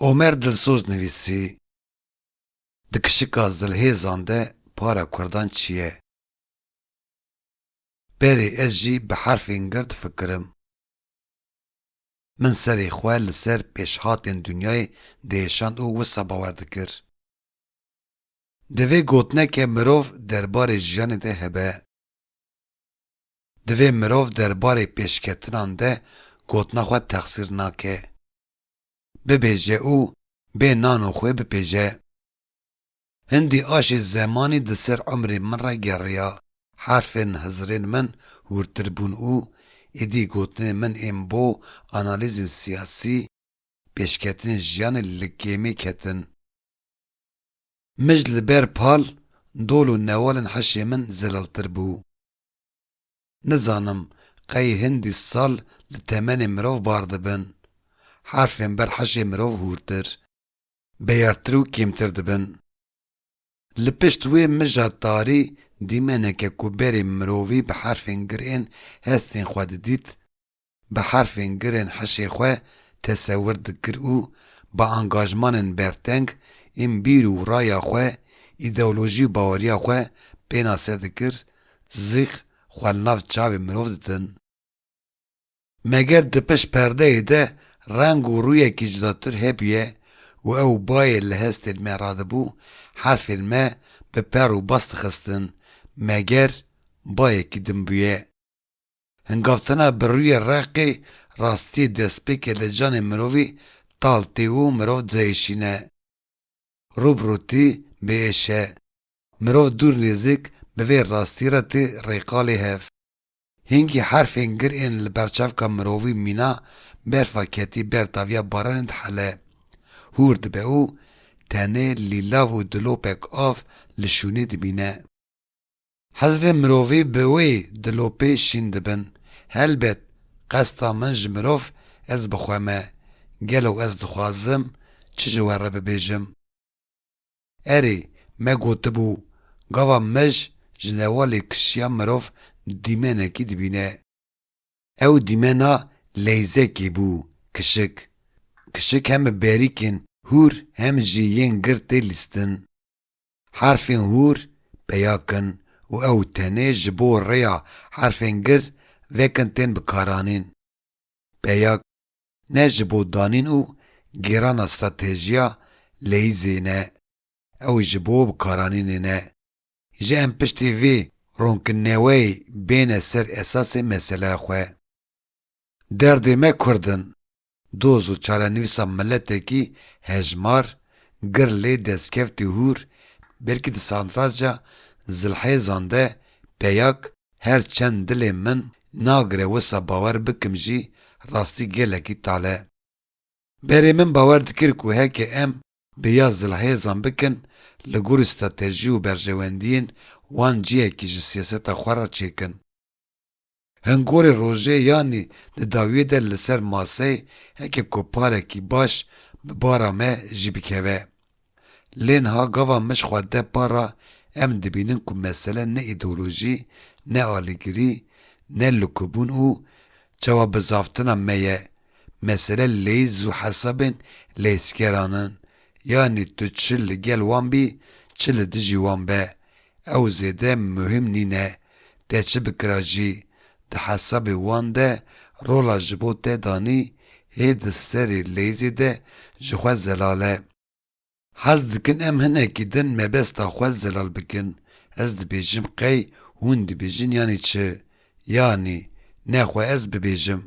Omer Dilsoz nivîsî, Di kişika zilhêzan de para kurdan çi ye? Berê ez jî bi herfên gird fikirim. Min serê xwe li ser pêşhatên dinyayê diêşand û wisa bawer dikir. Divê gotineke mirov derbarê jiyanê de hebe. Divê mirov derbarê pêşketinan de gotina xwe texsîr nake, bibêje û bê nan û xwê bipêje. Hindî aşê zemanî di ser umrê min re geriya, herfên hizirên min hûrtir bûn û êdî gotinên min ên bo analîzên siyasî, pêşketinên jiyanê li kêmê ketin. Mij li ber pal, dol û newalên hişê min zelaltir bû. Nizanim qey hindî sal li temenê mirov bar dibin. Harfên ber heşê mirov hûrtir, beyartir û kêmtir dibin. Li pişt wê mija tarî dîmeneke ku berê mirovî bi herfên girên hestên xwe didît, bi herfên girên hişê xwe tesewir dikir û bi angajmanên berteng ên bîr û raya xwe, îdeolojî û baweriya xwe pênase dikir, zîq xwe li nav çavê mirov didin. Meger di pişt perdeyê de reng û rûyekî cudatir hebûye û ew bayê li hestên me radibû, herfên me bi per û bas dixistin, meger bayekî din bûye. Hingavtina bi rûyê reqê rastiyê destpêkê li canê mirovî tal tê û mirov dihêşîne. Rû bi rû tî bê êş e. Mirov dûr nêzik bi vê rastiyê re tê rêqalê hev. Hingî herfên gir ên li ber çavka mirovî mîna berfa ketî ber daviya baranê dihele. Hûr dibe û tenê lîlav û dilopek av li şûnê dimîne. Hezrê mirovî bi wê dilopê şîn dibin, helbet qesta min ji mirov ez bi xwe me, gelo ez dixwazim çi ji we re bibêjim? Erê, me gotibû, gava mij ji newalê kişiya mirov dîmenekî dibîne. Ew dîmena leyzekê bû, kişik. Kişik hem bi berîkên hûr hem jî yên girtê lîstin. Herfên hûr peya kin û ew tenê ji bo rêya herfên gir vekin tên bikaranîn. Peya k ne ji bo danîn û gêrana stratejiya leyîzê ne, ew ji bo bikaranînê ne. Ji em piştî vê ronkinneweyê bêne ser esasê meseleya xwe. Derdê me kurd in, Doz û çarenivîsa miletekî hejmar, gir lê destkeftî hûr, belkî di santraca zilhêzan de peyak, her çend dilê min nagire wisa bawer bikim jî rastî gelekî tale. Berê min bawer dikir ku heke em bi ya zilhêzan bikin li gorî stratejî û berjewendiyên wan cihekî ji siyaseta xwe re çêkin. Hingorê rojê yanî di dawiyê de li ser masey heke ku parekî baş bi bara me jî bikeve. Lê niha gava mij xwe de para em dibînin ku mesele ne îdeolojî, ne alîgirî, ne likubûn û çawabizavtina me ye, Mesele lêz û hesabên lêzkeran in, yanî tu çi li gel wan bî çi li dijî wan be, ew zêde muhîm nîne, te çi bikira jî, di hesabê wan de rola ji bo te danî hê di serê lêzê de ji xwe zelal e. Hez dikin em hinekî din mebesta xwe zelal bikin, ez dibêjim qey hûn dibêjin yanî çi, yanî ne xwe ez bibêjim.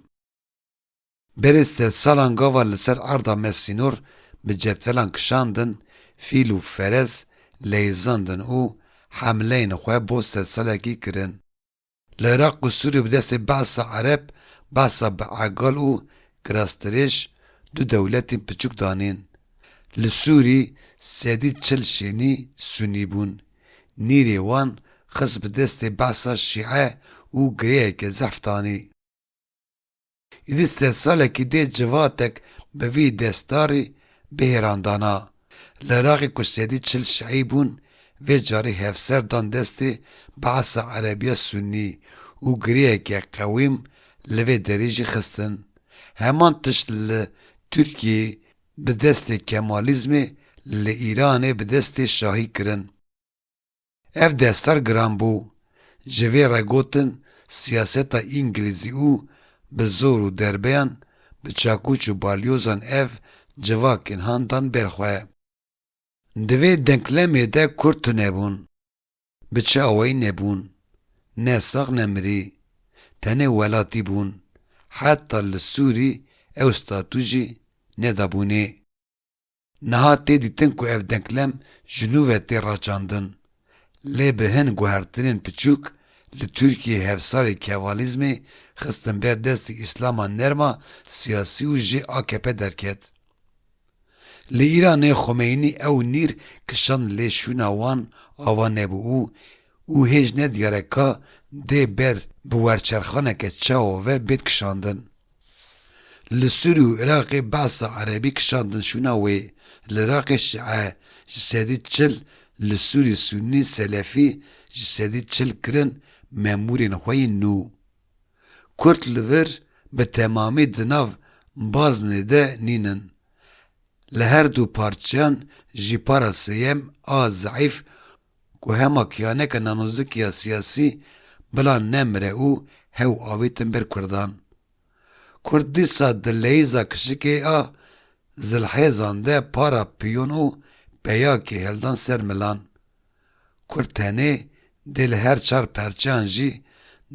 Berê sed salan gava li ser erda me sînor bi cetvelan kişandin, fîl û feres leyzandin û hemleyên xwe bo sed salekî kirin. Li Iraq û Sûriyê bi destê behsa ereb, behsa bi egal û kirastirêj du dewletên piçûk danîn. Li Sûrî sedî çil şênî Sunî bûn. Nîrê wan xist bi destê behsa Şîe û girêyeke zehf danî. Îdî sed salekî dê civatek bi vî destarî bihêran dana. Li Iraqê ku sedî çil şiî bûn, vê carî hevser dan destê Be'sa Erebiya Sunnî û girêyeke qewîm li vê derî jî xistin. Heman tişt li Tirkiyeyê bi destê Kemalîzmê, li Îranê bi destê Şahî kirin. Ev destar giran bû. Ji vê re gotin siyaseta îngilîzî û bi zor û derbeyan bi çakûç û balyozan ev civakên han dan ber xwe. Di vê denklemê de kurd tunebûn. Bi çi awayî nebûn. Ne sax ne mirî. Tenê welatî bûn. Heta li Sûrî ew statû jî nedabûnê. Niha tê dîtin ku ev denklem ji nû ve tê raçandin. Lê bi hin guhertinên piçûk, li Tirkiyeyê hevsarê Kevalîzmê xistin ber destî Îslama nerma siyasî û jê akp derket. Li Îranê Xomeynî ew nîr kişand lê şûna wan ava nebû û û hêj nediyare ka dê ber bi werçerxaneke çawa ve bêt kişandin. Li Sûrî û Iraqê behsa erebî kişandin şûna wê, li Iraqê şîe ji sedî çil li Sûrî sûnî selefî ji sedî çil kirin memûrên xwe yên nû. Kurd li vir bi temamî di nav baznê de nînin. Li her du parçeyan jî para sêyem a zeîf Ku hema kiyaneke nanozik ya siyasî bila nemire û hew avîtin ber kurdan. Kurd dîsa di leyîza kişikê a zilhêzan de para piyon û peyakê heldan ser milan. Kurd tenê dê li her çar perçeyan jî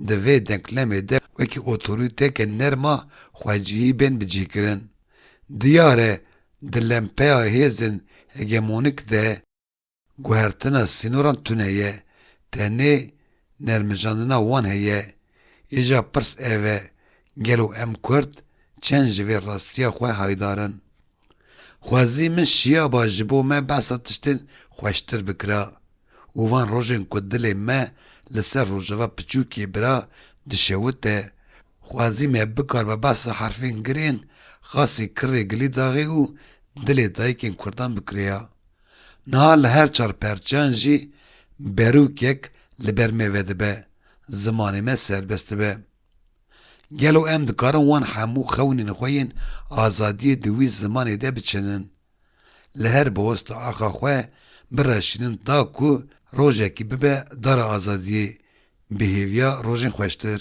di vê denklemê de wekî otorîteke nerma xwecihî bên bicihkirin. Diyar e di lempeya hêzên hegemonîk de, Guhertina sînoran tune ye, tenê nermijandina wan heye. Îja pirs ev e, gelo em kurd çend ji vê rastiya xwe haydar in? Xwezî min şiyaba ji bo me behsa tiştên xweştir bikira û van rojên ku dilê me li ser rojava piçûkê bira dişewite, xwezî me bikaribe behsa herfên girên, xasî kirê gilîdaxê û dilê dayikên kurdan bikirêya. Niha li her çar perçeyan jî berûkek li ber me vedibe, zimanê me serbest dibe. Gelo em dikarin wan hemû xewnên xwe yên azadiyê di wî zimanê de biçinin? Li her biwesta axa xwe bireşînin ta ku rojekî bibe dara azadiyê, bi hêviya rojên xweştir.